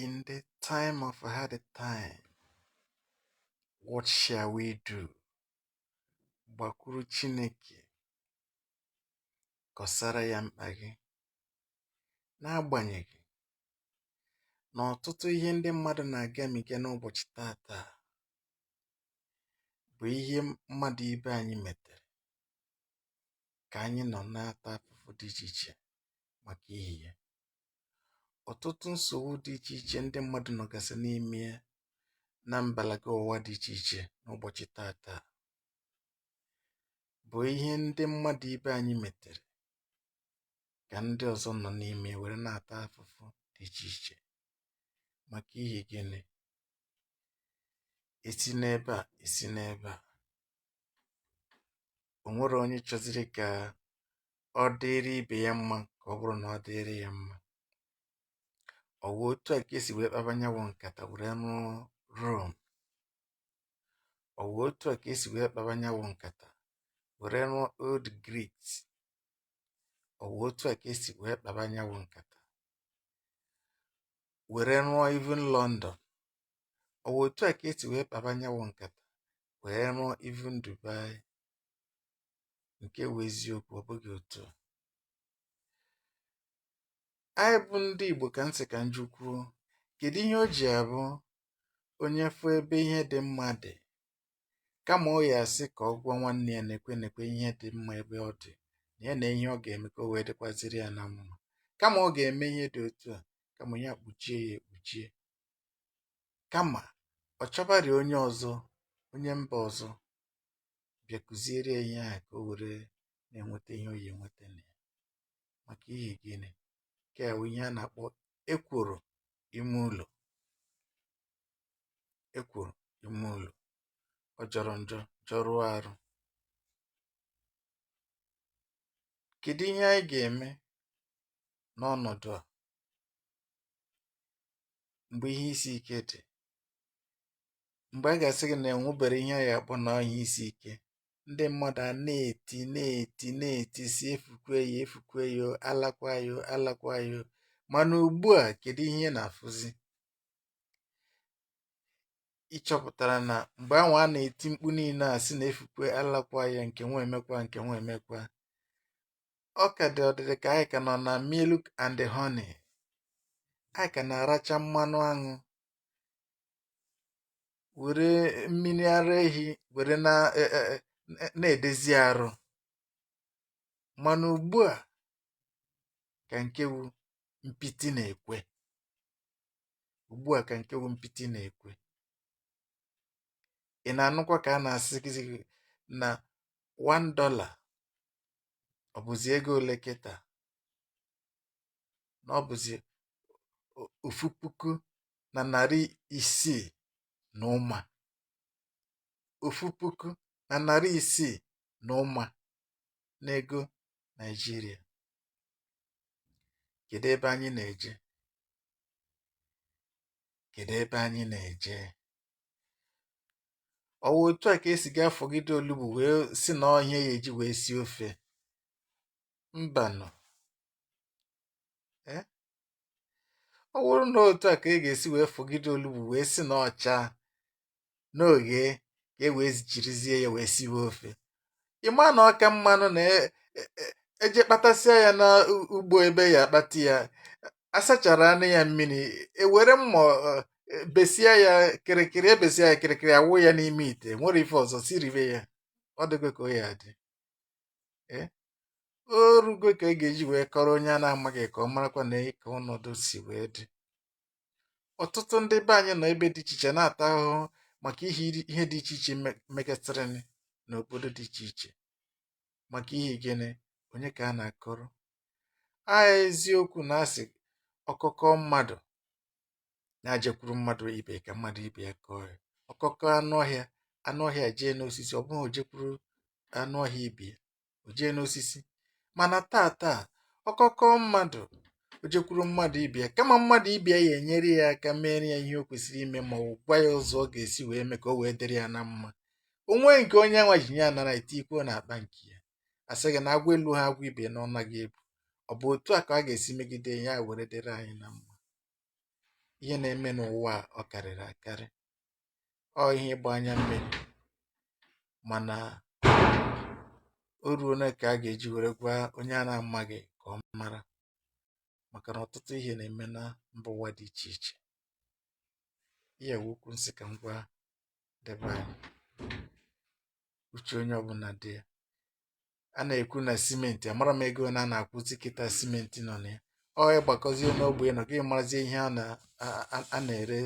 In the time of hard time, what shall we do? Gbakwuru Chineke, kọsara ya mkpa gị. N'agbanyeghị na ọtụtụ ihe ndị mmadụ na-agamiga n'ụbọchị tata bụ ihe mmadụ ibe anyị metere ka anyị nọ na-ata afụfụ dị iche iche maka ihi ya. ọ̀tụtụ nsògbu dị ichè ichè ndị mmadụ̇ nọ̀gàsị n'ime ya na mbàlàkà ụ̀wa dị ichè ichè n'ụbọ̀chị̀ taàtaà bụ̀ ihe ndị mmadụ̇ ibe anyị mètèrè kà ndị ọ̀zọ nọ̀ n'ime ya wère na-àta afụfụ dị ichè ichè màkà ihi gịnị e si n'ebe à e si n'ebe à ò nwere onye chọziri kà ọ dịrị ibe ya mma ka ọ bụrụ na ọ dịrị ya mma ọ wụ otu a ka e si wee kpaba nya wụ nkata were rụọ rome ọ wụ otu a ka e si wee kpaba nya wụ nkata were rụọ old greece ọ wụ otu a ka e si wee kpaba nya wụ nkata were rụọ even london ọ wụ otu a ka e si wee kpaba nya wụ nkata wee rụọ even dubai Nke bụ eziokwu, ọ bụghị otu a. Anyị bụ ndị Igbo ka m sị ka m jụkwuo, kedu ihe o ji abụ onye fụ ebe ihe dị mma dị kama ọ ya-asị ka ọ gwa nwanne ya neekwe neekwe ihe dị mma ebe ọ dị na ya na ihe ọ ga-eme ka o wee dịkwaziri ya na mma kama ọ ga-eme ihe dị otu a kama ya kpuchie ya ekpuchie kama ọ chọbara onye ọzọ onye mba ọzọ bịa kụziere ya ihe ahụ ka o were na-enweta ihe ọ ya-enweta na ya maka ihi gịnị nke a bụ ihe a na-akpọ ekworo ime ụlọ ekworo ime ụlọ ọ jọrọ njọ jọrụọ arụ kedu ihe anyị ga-eme n'ọnọdụ a mgbe ihe isi ike dị mgbe a ga-asị gị na e nwebere ihe a ga-akpọ na ọ ihe isi ike ndị mmadụ a na-eti na-eti na-eti sị efukwe o efukwe o alakwa o alakwa o mana ugbu a kedu ihe ị na-afụzi ị chọpụtara na mgbe anwa a na-eti mkpu niile a sị na efukwe alakwa o nke nwa emekwa nke nwa emekwa ọ ka dị ọ dịrị ka anyị ka nọ na milk and honey anyị ka na-aracha mmanụ aṅụ were mmiri ara ehi were na e, e, e, na-edezi arụ mana ugbu a ka nke wu mpịtị na-ekwe ugbu a ka nke wu mpịtị na-ekwe ị na-anụkwa ka a na-asị gị na 1 dollar ọ bụzi ego ole kịta na ọ bụzi ofu puku na narị isii na ụma ofu puku na narị isii na ụma n'ego Naijiria kedu ebe anyị na-eje kedu ebe anyị na-eje ọ wụ otu a ka esi ga-afọgide olugbu wee si na ọhịa ya eji wee sie ofe mbanụ ọ bụrụ na otu a ka e ga-esi wee fọgide olugbu wee si na ọ cha n'oge ka e wee jirizie ya wee siwe ofe ị ma na ọ ka mmanụ na e- e- e- eje kpatasịa ya n'ugbo ebe a ya-akpata ya asacharanụ ya mmiri ewere mma ọ, e, besia ya kịrịkịrị ebesia ya kịrịkịrị awụ ya n'ime ite nwere ife ọzọ siribe ya ọ dịgo ka ọ ya-adị o rugo ka e ga-eji wee kọrọ onye a na-amaghị ka ọ marakwa na ka ọnọdụ si wee dị ọtụtụ ndị be anyị nọ ebe dị iche iche na-ata ahụhụ maka ihi ihe dị iche iche megasịrị n'obodo dị iche iche maka ihi gịnị onye ka a na-akọrọ a eziokwu na a sị ọkọ kọọ mmadụ na o jekwuru mmadụ ibe ka mmadụ ibe ya kọọ ya ọkọ kọọ anụ ọhịa anụ ọhịa jee n'osisi ọ bụghị o jekwuru anụ ọhịa ibe ya o jee n'osisi mana taa taa ọkọ kọọ mmadụ o jekwuru mmadụ ibe ya kama mmadụ ibe ya ya-enyere ya aka mere ya ihe o kwesịrị ime ma ọ gwa ya ụzọ ọ ga-esi wee mee ka o wee dịrị ya na mma o wee nke onye nwa ji ya nara tikwuo n'akpa nke ya asị gị na agwa elu ha agwa ibe na ọ naghị ebu ọ bụ otu a ka a ga-esi megide ya were dịrị anyị na mma ihe na-eme n'ụwa a ọ karịrị akarị ọ ihe ịgba anya mmiri mana o ruona ka a ga-eji were gwa onye a na-amaghị ka ọ mara maka na ọtụtụ ihe na-eme na mba ụwa dị iche iche ihe wụ okwu m sị ka m gwa ndị be anyị uche onye ọbụla dị ya a na-ekwu na simenti amara m ego ne a na-akwụzi kịta simenti nọ na ya ọ ị gbakọzie n'ogbe ụnọ gị marazie ihe a na- a- a- a na-ere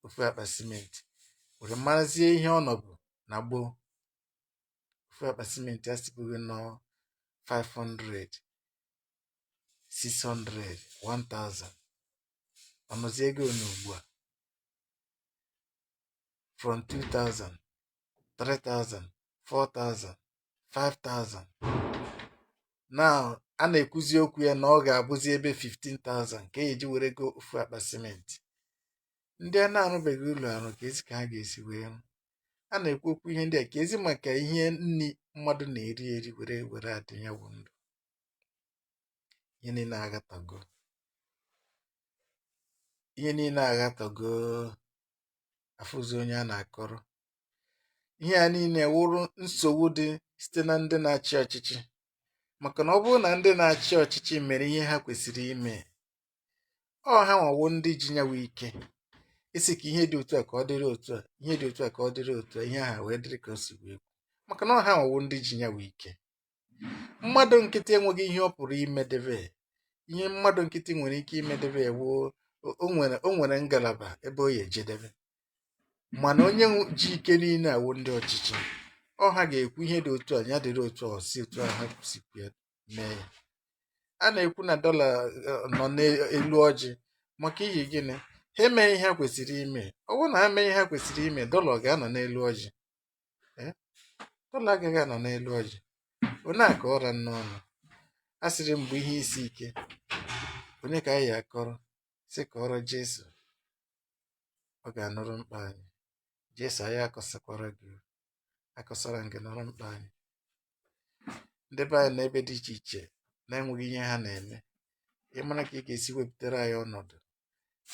ofu akpa simenti were marazie ihe ọ nọbu na gboo ofu akpa simenti a sibughị nọ 500 600 1000 ọ nọzi ego ne ugbu a from 2000 3000 4000 5000 now a na-ekwuzi okwu ya na ọ ga-abụzi ebe 15000 ka e ji were go ofu akpa simenti ndị a na-arụbeghị ụlọ arụ keezi ka ha ga-esi wee rụ a na-ekwu okwu ihe ndị a keezi maka ihe nri mmadụ na-eri eri were were adị ya bụ ndụ ihe niile aghatago ihe niile aghatago afụzi onye a na-akọrọ ihe a niile wụrụ nsogbu dị site na ndị na-achị ọchịchị maka na ọ bụrụ na ndị na-achị ọchịchị mere ihe ha kwesịrị ime ọ ha nwa wụ ndị ji nya wụ ike ịsị ka ihe dị otu a ka ọ dịrị otu a ihe dị otu a ka ọ dịrị otu a ihe ahụ wee dịrị ka o si wee kwu maka na ọ ha nwa wụ ndị ji nya wụ ike mmadụ nkịtị enweghị ihe ọ pụrụ imedebe ihe mmadụ nkịtị nwere ike imedebe woo o nwere o nwere ngalaba ebe ọ ya-ejedebe mana onye nwe- ji ike niile awụ ndị ọchịchị ọ ha ga-ekwu ihe dị otu a ya dịrị otu a si otu a ha si kwu ya mee ya a na-ekwu na dọla eh, nọ n'elu ọjị maka ihi gịnị ha emeghị ihe ha kwesịrị ime ọ bụrụ na ha mee ihe ha kwesịrị ime dọla ọ ga-anọ n'elu ọjị Eh? dọla agaghị anọ n'elu ọjị onye a ka ọra n'ọnụ a sịrị m bụ ihe isi ike onye ka anyị ya-akọrọ sị kọọrọ Jesu ọ ga-anụrụ mkpa anyị jesu anyị akọsakwara gị o. akọsara m gị nụrụ mkpa anyị ndị be anyị n'ebe dị iche iche na-enweghị ihe ha na-eme ị mara ka ị ga-esi wepụtara anyị ọnọdụ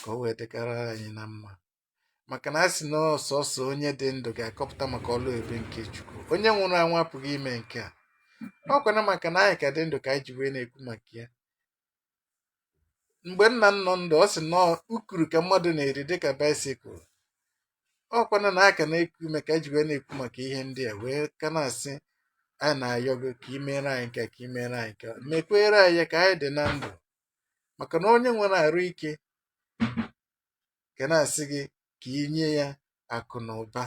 ka o wee dịkara anyị na mma maka na a sị na ọ sọsọ onye dị ndụ ga-akọpụta maka ọlụ ebere nke chukwu onye nwụrụ anwụ apụghị ime nke a ọ kwana maka na anyị ka dị ndụ ka anyị ji wee na-ekwu maka ya mgbe nna m nọ ndụ ọ sị na ukuru ka mmadụ na-eri dịka baisikụl ọ kwana na a ka na-eku ume ka e ji wee na-ekwu maka ihe ndị a wee ka na-asị anyị na-ayọ gị ka ị meere anyị nke ka ị meere anyị nke mekwere anyị ka anyị dị na ndụ maka na onye nwere arụ ike ga na-asị gị ka ị nye ya akụ na ụba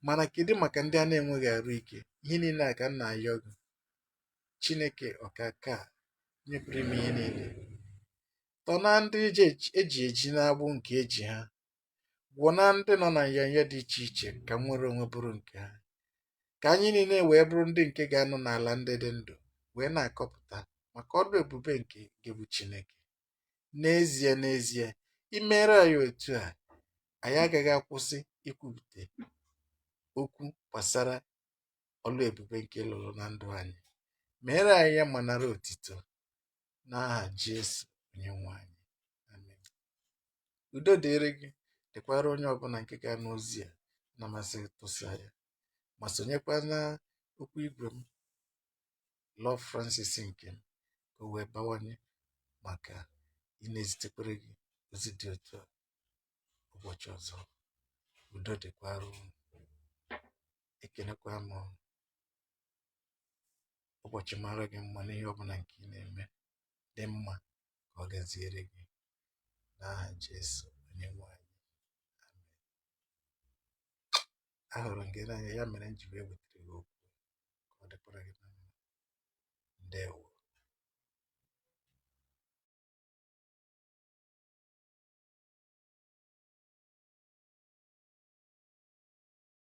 mana kedu maka ndị a na-enweghị arụ ike ihe niile a ka m na-ayọ gị Chineke Ọkaakaa, Onye Pụrụ Ime Ihe Niile, tọ na ndị eji eji n'agbụ nke eji ha, gwọ na ndị nọ na nyanya dị iche iche ka nnwere onwe bụrụ nke ha, ka anyị niile wee bụrụ ndị nke ga-anọ n'ala ndị dị ndụ wee na-akọpụta maka ọlụ ebube nke gị bụ Chineke. N'ezie n'ezie, i meere anyị otu a, anyị agaghị akwụsị ikwupụta okwu gbasara ọlụ ebube nke ị lụrụ na ndụ anyị meere anyị ya ma nara otito n'aha Jesu Onyenwe anyị amen udo dịrị gị dịkwara onye ọbụna nke ga-anụ ozi a na-amasị tụsaa ya ma sonyekwa n'okwu igwe m Love Francis nke m ka o wee bawanye maka ịna-ezitekwere gị ozi dị otu a ụbọchị ọzọ udo dịkwara unu ekenekwa m unu. Ụbọchị mara gị mma n'ihe ọ bụna nke ị na-eme dị mma ka ọ gaziere gị n'aha Jesu onye nwe anyị. Amen. Ahụrụ m gị n'anya ya mere m ji wee butere gị okwu ka ọ dịkwara gị na mma. Ndewo.